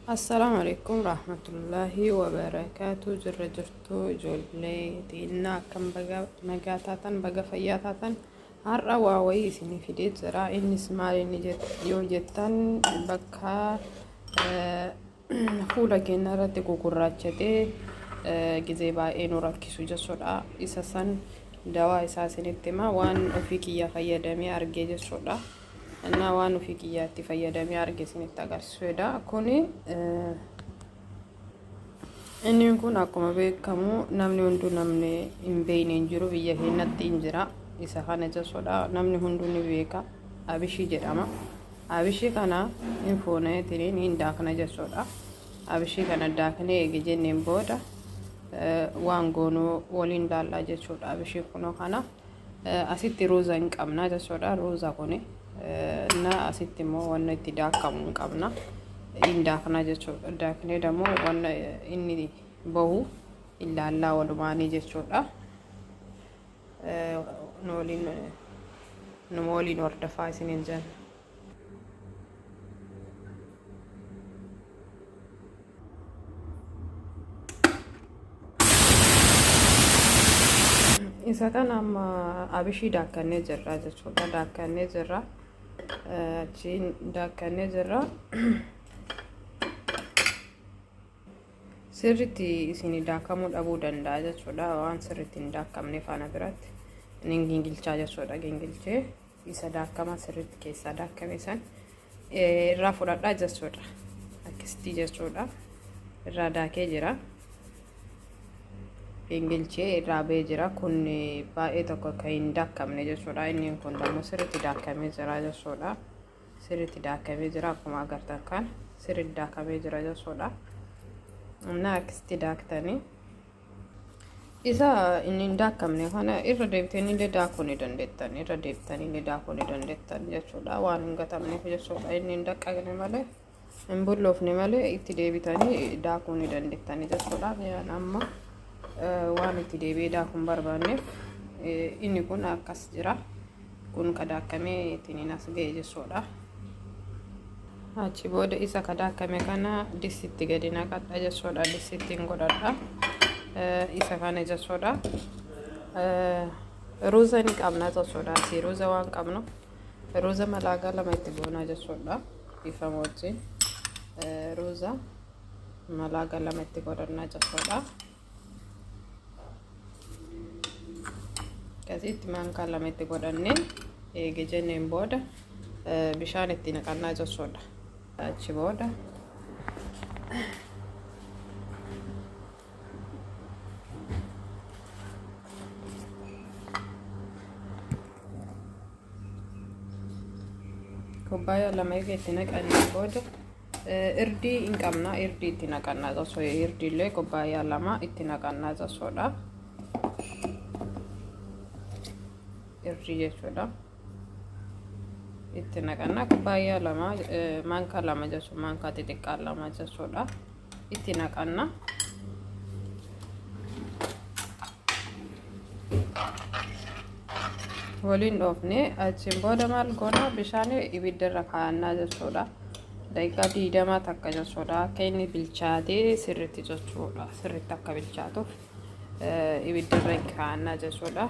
Assalaamu alaikum rahmatullahi wa barakaatu jirra jirtu ijoollee xiinnaa akkam baga nagaa taatan baga fayyaa taatan har'a waa wayii isinii fidee jira innis maal inni jet- yoo jettan bakka eh, fuula keenya irratti gugurraachatee eh, gizee baay'ee nu rakkisu jechuudha isa san dawaa isaa isinitti hima waan ofii kiyyaa fayyadamee argee jechuudha. Annaa waan ofii kiyyaatti fayyadamee arge isinitti agarsiisuudha. Kuni inni kun akkuma beekamu namni hunduu namni hin beekne hin jiru biyya keenyatti hin jira. Isa kana jechuudha namni hunduu ni beeka. Abishii jedhama. Abishii kana hin fuunee tiriin hin daakna jechuudha. Abishii kana daaknee eegi jenneen booda waan goonuu waliin laallaa jechuudha. Abishii kunoo kana Asitti ruuza hin qabna jechuudha. Ruuza kun na asitti immoo wanna itti daakamu hin qabna. Hin daakna jechuudha. Daaknee dammoo wanna inni bahu illaallaa walumaanii jechuudha. Nu waliin hordofaa isiniin jenna. isa kan amma abishii daakkannee jirra jechuudha daakkannee jirra achiin daakkannee jirra sirritti isin daakamuu dhabuu danda'a jechuudha waan sirritti hin daakkamne faana biratti inni gingilchaa jechuudha gingilchee isa daakkamaa sirriitti keessaa daakkame san irraa fudhadhaa jechuudha. Akkasitti jechuudha. Irraa daakee jira. Gingilchee irraa ba'ee jira. Kun baay'ee tokko kan hin daakkamne jechuudha. Inni kun immoo sirriitti daakkamee jira jechuudha. Sirriitti daakkamee jira akkuma agartan kan sirriitti daakkamee jira jechuudha. Humna akkasitti daaktanii Isa inni hin daakkamne kana irra deebitanii illee daakuu ni dandeettan. Irra deebitanii illee daakuu ni dandeettan jechuudha. Waan hin gatamneef jechuudha. Inni hin daqqagne malee hin bulloofne malee itti deebitanii daakuu ni dandeettan jechuudha. Yaan amma waan itti deebi'ee daakuu hin barbaanneef inni kun akkas jira. kun ka daakkame ittiin as ga'e jechuudha. Achi booda isa ka daakkame kana distitti gadi naqadha jechuudha. Distittiin godhadha. Isa kana jechuudha. Ruuza ni qabna jechuudha. Asii ruuza waan qabnu ruuza malaagaa lama itti goonaa jechuudha. Dhiifama wajjin ruuza malaagaa lama itti godhannaa jechuudha. akkasitti maankaa lama itti godhannee eege jenneen booda bishaan itti naqannaa jechuudha achi booda Kubbaayyaa lama egaa itti naqannee booda irdii hin qabna irdii itti naqannaa tasoo irdiillee kubbaayyaa lama itti naqannaa tasoodha. Irdii jechuudha. Itti naqannaa kubbaayyaa lama maankaa lama jechuun maankaa xixiqqaa lama jechuudha. itti naqanna. waliin dhoofne achiin booda maal goona bishaan ibidda irra kaa'annaa jechuudha. Daqiiqaa diidamaa takka jechuudha. Akka inni bilchaatee sirriitti jechuudha. Sirriitti akka bilchaatuuf ibidda irra kaa'annaa jechuudha.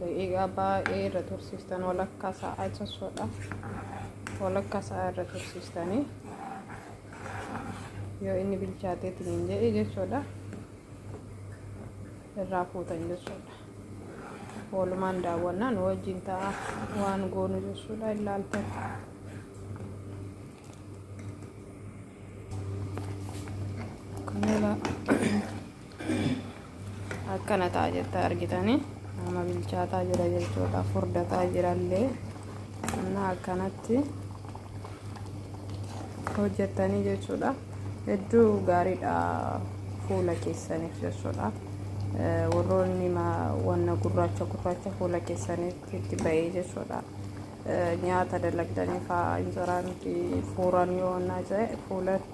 Daqiiqaa baay'ee irra tursiistan walakkaa sa'aa jechuudha. Walakkaa sa'aa irra tursiistanii yoo inni bilchaatee tiniin jedhe jechuudha. Irraa fuutan jechuudha. Walumaan daawwannaan wajjin ta'a waan goonu jechuudha ilaaltan. Kanela. akkana ta'a jetta argitanii amma bilchaataa jira jechuudha furdataa jirallee amma akkanatti hojjettanii jechuudha hedduu gaariidha fuula keessaniif jechuudha warroonni wanna gurraacha gurraacha fuula keessanitti itti ba'ee jechuudha nyaata dalagdanii fa'aa injiraan fuuran yoo onnaa ta'e fuulatti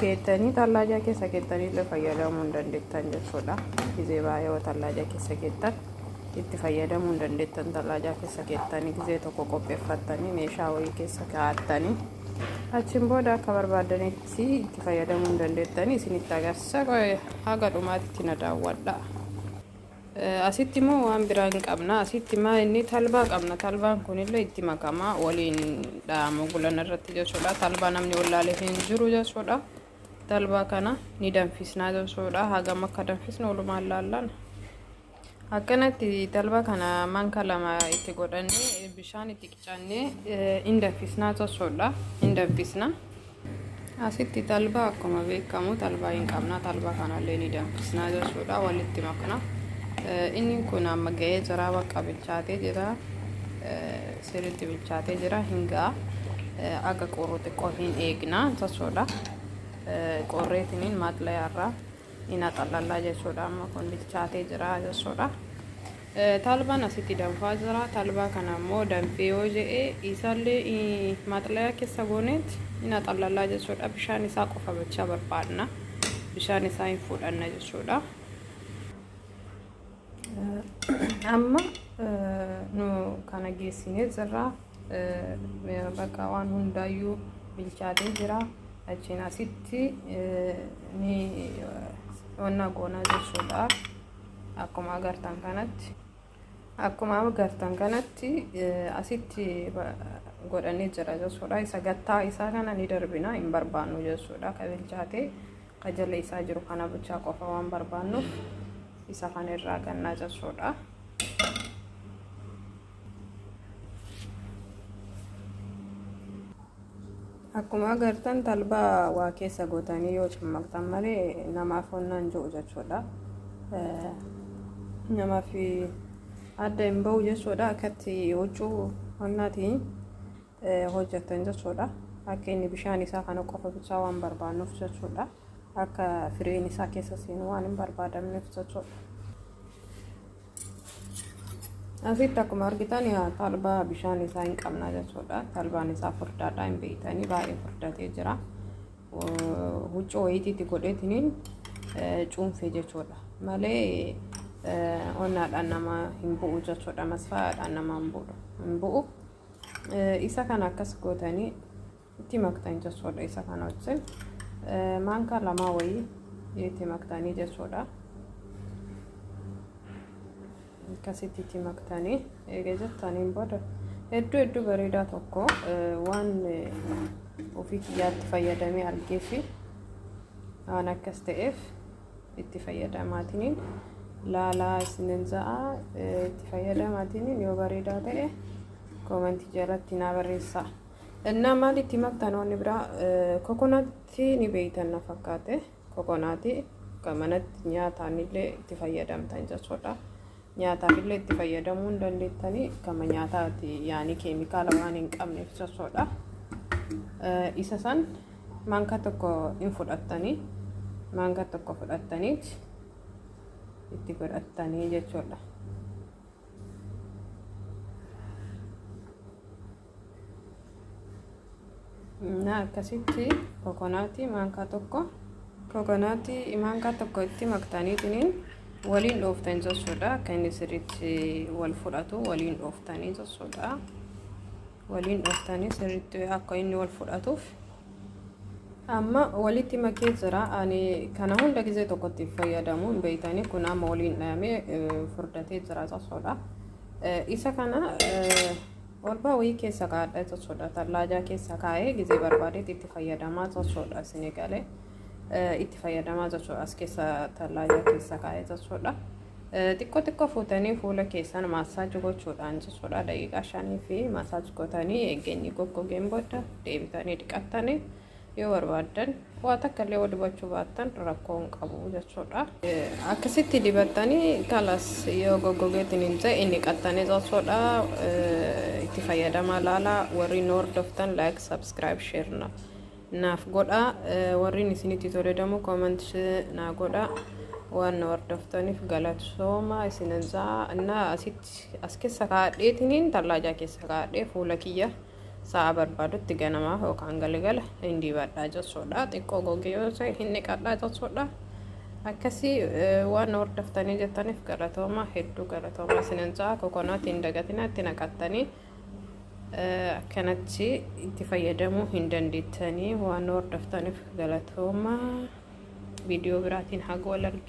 Keettanii tallaajaa keessa keettanii illee fayyadamuu hin dandeettan jechuudha. Gizee baay'ee yoo tallaajaa keessa keettan itti fayyadamuu hin dandeettan tallaajaa keessa keettanii gizee tokko qopheeffattanii meeshaa wayii keessa kaa'attanii achiin booda akka barbaaddanitti itti fayyadamuu hin dandeettanii isinitti agarsiisa haga dhumaatti na daawwadhaa. Asitti moo waan biraa hin qabna asitti maa inni talbaa qabna talbaan kunillee itti makama waliin dha'amu gulana irratti jechuudha talbaa namni wallaalee hin jiru jechuudha talbaa kana ni danfisnaa jechuudha hagam akka danfisnu walumaan laallan akkanatti talbaa kana manka lama itti godhannee bishaan itti Cannee in danfisnaa jechuudha. In danfisna. Asitti talbaa akkuma beekamu talbaa hin qabna. Talbaa kanallee ni danfisnaa jechuudha. Walitti makna. Inni kun amma ga'ee jira bakka bilchaatee jira. Sirriitti bilchaatee jira hin ga'a. Aga qorru xiqqoo hin eegna jechuudha. Qorreetiniin maaxlayaarraa Ina xallallaa jechuudha amma kun bilchaatee jira jechuudha. Talbaan asitti danfaa jira. Talbaa kana immoo danfee yoo je'e isaallee maxlayaa keessa gooneet ina xallallaa jechuudha. Bishaan isaa qofa bachaa barbaadna. Bishaan isaa hin fuudhanna jechuudha. amma nu kana geessinee jirra bakka waan hundaayyuu bilchaatee jira achiin asitti ni wanna goonaa jechuudha akkuma agartan kanatti akkuma agartan kanatti asitti godhanii jira jechuudha isa gattaa isaa kana ni darbina hin barbaannu jechuudha ka bilchaatee ka jala isaa jiru kana bichaa qofa waan barbaannuuf isa kan irraa gannaa jechuudha. Akkuma agartan talbaa waa keessa gootanii yoo cimmaqxan malee namaaf honnaan jiru jechuudha. Namaaf adda hin bahu jechuudha akkatti huccuu honnaatiin hojjattan jechuudha. Akka inni bishaan isaa kana qofa bichaa waan barbaannuuf jechuudha. Akka firiin isaa keessa seenu waan hin barbaadamneef jechuudha. Asitti akkuma argitan talbaa bishaan isaa hin qabna jechuudha. Talbaan isaa furdaadha hin beektanii baay'ee furdatee jira. Huccuu wayitiitti godheetiniin cuunfe jechuudha. Malee onnaadhaan nama hin bu'u jechuudha. Masfaayaadhaan nama hin bu'u. Isa kana akkas gootanii itti maktan jechuudha. Isa kana wajjin maankaa lamaa wayii itti maktanii jechuudha. Akkasitti itti maktanii eega jettaniin booda hedduu hedduu bareedaa tokko waan ofii kiyyaatti fayyadamee argee fi waan akkas ta'eef itti fayyadamaatiniin laalaa isinin ja'a itti fayyadamaatiniin yoo bareedaa ta'e koomantii jalatti naa barreessaa. Innaa maal itti maktan wanni biraa kokonaatti ni beeytan na fakkaate kokonaati kan manatti nyaataan illee itti fayyadamtan jechuudha. Nyaataaf illee itti fayyadamuu hin dandeettanii gama nyaataati yaanii keemikaala waan hin qabneef sossoodha. Isa san maankaa tokko hin fudhattanii maankaa tokko fudhattaniit itti godhattanii jechuudha. na akkasitti kokonaatii maankaa tokko kokonaatii maankaa tokko itti maktaaniitiin waliin dhooftan jechuudha akka inni sirriitti wal fudhatu waliin dhooftanii jechuudha waliin dhooftanii sirriitti akka inni wal fudhatuuf amma walitti makee jira ani kana hunda gizee tokkotti fayyadamu hin beeytanii kun amma waliin dhayamee furdatee jira jechuudha isa kana Olbaa wayii keessa kaa'adha jechuudha. Tallaajaa keessa kaa'ee gizee barbaadetti itti fayyadamaa jechuudha. Sinigalee itti fayyadamaa jechuudha. As keessa tallaajaa keessa kaa'ee jechuudha. Xiqqoo xiqqoo fuutanii fuula keessan maasaaj gochuudhaan jechuudha. Daqiiqaa shanii fi maasaaj gootanii eegeenyi goggogeen booda deebitanii dhiqattanii Yoo barbaaddan waa takka illee yoo dibachuu baattan rakkoo hin qabu jechuudha. Akkasitti dibattanii kalas yoo goggogeetiin hin ta'e inni qattanii jechuudha. Itti fayyadamaa laala warri nu hordoftan like subscribe share na naaf godha warri isinitti tole damu comment naa godha waan nu hordoftaniif galatsooma isinan jaa na asitti as keessa kaadheetiniin tallaajaa keessa kaadhee fuula kiyya. Sa'a barbaadutti ganamaa yookaan galgala hin dibadhaa jechuudha. Xiqqoo gogee yoo ta'e hin dhiqadhaa jechuudha. Akkasii waan hordoftanii jettaniif galatooma hedduu galatooma isinin ja'a kokonaatii hin dagatinaa itti naqattanii akkanatti itti fayyadamuu hin dandeettanii waan hordoftaniif galatooma viidiyoo biraatiin haga wal arginu.